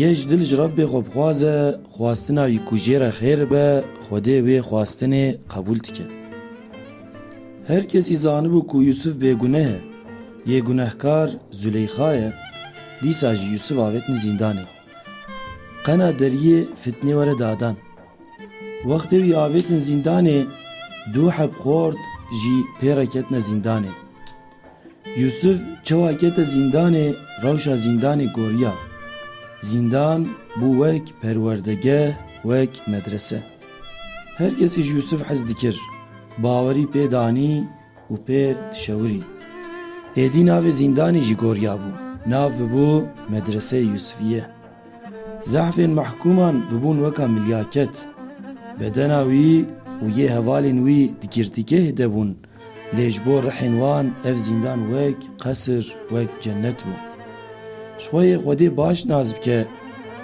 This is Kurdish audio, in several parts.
Yê ji dil ji Rabbê xwe bixwaze, xwastina wî ku jê re xêr be, Xwedê wê xwastinê qebûl dike. Her kesî zanibû ku Yûsif bêguneh e, yê gunehkar Zuleyxa ye, dîsa jî Yûsif avêtine zîndanê. Qena deriyê fitnê were dadan. Wextê wî avêtin zîndanê, du heb xort jî pê re ketine zîndanê. Yûsûf çawa kete zîndanê rewşa zîndanê goriya. Zîndan bû wek perwerdegeh, wek medrese. Her kesî ji Yûsûf hez dikir, bawerî pê danî û pê dişewirî. Êdî navê zîndanê jî goriya bû, nav bibû Medreseyê Yûsûfîye. Zehfên mehkûman bibûn weka milyaket. Bedena wî û yê hevalên wî di girtîgehê de bûn, Lê ji bo rihên wan ev zîndan wek qesir, wek cennet bû. Ji xwe yê Xwedê baş nas bike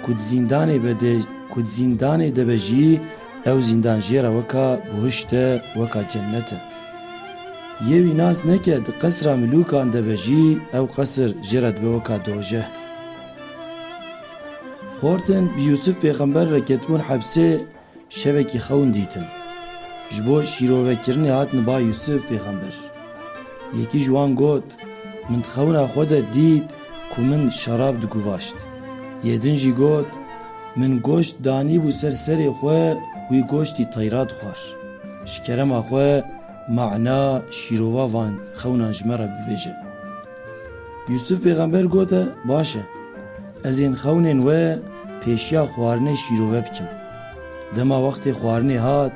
ku di zîndanê be de ku di zîndanê de be jî ew zîndan jê re weka buhişt e, weka cennet e. Yê wî nas neke di qesira milûkan de be jî ew qesir jê re dibe weka dojeh. Xortin bi Yûsif pêxember re ketibûn hepsê, Şevekî xewn dîtin. Ji bo şîrovekirinê hatine ba Yûsif pêxember. Yekî ji wan got, Min di xewna xwe de dît ku min şerab diguvaşt. Yê din jî got, Min goşt danîbû ser serê xwe wî goştî teyra dixwar. Ji kerema xwe mana, şîrova van xewnan ji me re bibêje. Yûsûf pêxember got e, Baş e, ez ên xewnên we pêşiya xwarinê şîrove bikim. Dema wextê xwarinê hat,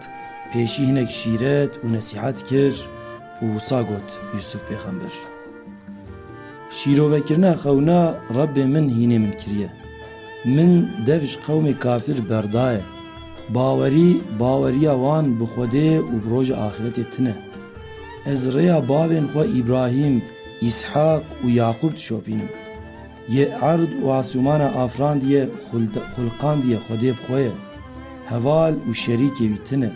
pêşî hinek şîret û nesîhet kir û wisa got, Yûsûf pêxember, Şîrovekirina xewna Rebbê min hînê min kiriye. Min dev ji qewmê kafir berdaye. Bawerî, baweriya wan bi Xwedê û bi roja axîretê tune. Ez rêya bavên xwe Îbrahîm, Îshak û Yaqûb dişopînim. Yê erd û asûmana afrandiye, xulqandiye Xwedê bi xwe ye. Heval û şerîkê wî tune,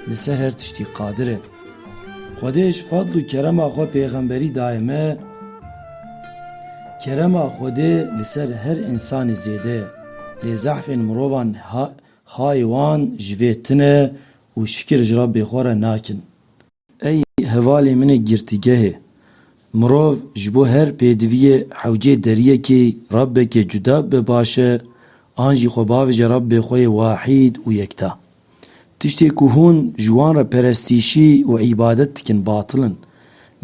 li ser her tiştî qadir e. Xwedê ji fadl û kerema xwe pêxemberî daye me, kerema Xwedê li ser her însanê zêde ye, lê zehfên mirovan hê wan ji vê tune û şikir ji Rabbê xwe re nakin. Ey hevalê min ê girtîgehê. Mirov ji bo her pêdiviyê hewcê deriyekî Rabbekê cuda bibe baş e an jî xwe bavêje Rabbê xwe yê wahîd û yekta. Tiştê ku hûn ji wan re perestîşî û îbadet dikin batil in.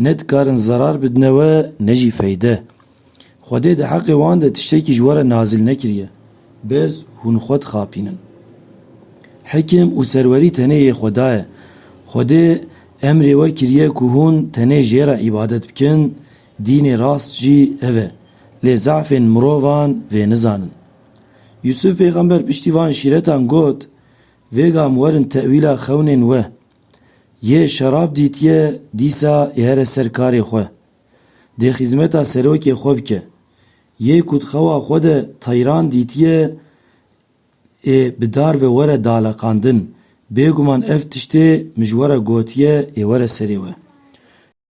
Ne dikarin zerar bidine we ne jî feyde. Xwedê di heqê wan de tiştekî ji we re nazil nekiriye. Bez hûn xwe dixapînin. Hikim û serwerî tenê yê Xweda ye. Xwedê emrê we kiriye ku hûn tenê jê re îbadet bikin, dînê rast jî ev e. Lê zefên mirovan vê nizanin. Yûsûf pêxember piştî van şîretan got, Vê gam werin tewîla xewnên we. Yê şerab dîtiye, dîsa ê here ser karê xwe. Dê xîzmeta serokê xwe bike. Yê ku di xewa xwe de teyran dîtiye ê bi dar ve were daleqandin, bêguman ev tiştê mijwara gotiye ê were serê we.